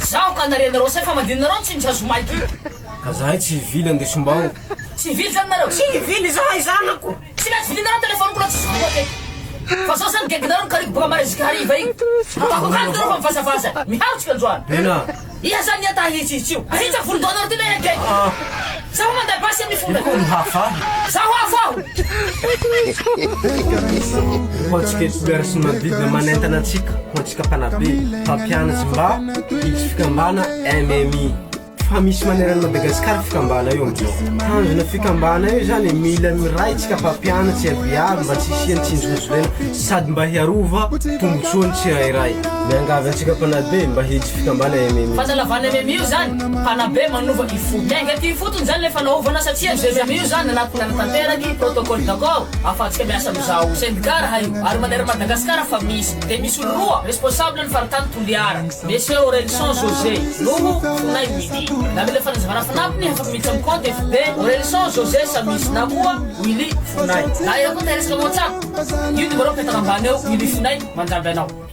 Zaho ka nare anareo saika mandihy nareo ny tsindry sazy omaly ty. Ka zahay tsy hivily andesom-bao. Tsy hivily zany nareo? Tsy hivily zahay zanako. Tsy mety vilinareo ny telefoniko na tsisy vola aketo. Fa zao zany geginareo ny kariko boka Maresika hariva iny. Ataoko akany nareo fa mivazavaza. Miharotsika androany. Tena? Iha zany ny enta ahitsihitsy io. Ahitsy ny volon-dohanareo ty lehilahy gegy. Zaho manda basy amin'ny vola. Io no hafa ahy. Zaho hafa aho. Ho antsika Espoir sy Mavidy manentana antsika ho antsika mpanabe, mpampianatry mba hiditry fikambana MMI fa misy maneran'i Madagascar fikambana io amin'izao. Tanjona fikambana io izany e, mila miray tsika mpampianatry abiaby mba tsy hisian'ny tsinjorinjolena sady mba hiarova tombotsoan'ny tsirairay. Miangavy antsika mpanabe mba hiditry fikambana MMI. Fanalavana MMI io izany. Mpanabe manova ny fo. Miainga aty ifotony izany ilay fanaovana satria ny Zezamia io izany anaty nanatanteraka i Protocole d'accord afantsika miasa amin'izao. Sendika raha io. Ary manery Madagascar fa misy. Dia misy olo roa responsable ny faritany Toliara. Monsieur Orelison José noho Fonay Willy. Na mila fanazavana fanampiny ny hafako miditra amin'ny compte FB Orelison José Samis na koa Willy Fonay. Na ianao koa teresaka ao WhatsApp. Io numéro mipetaka ambany eo Willy Fonay mandramby anao.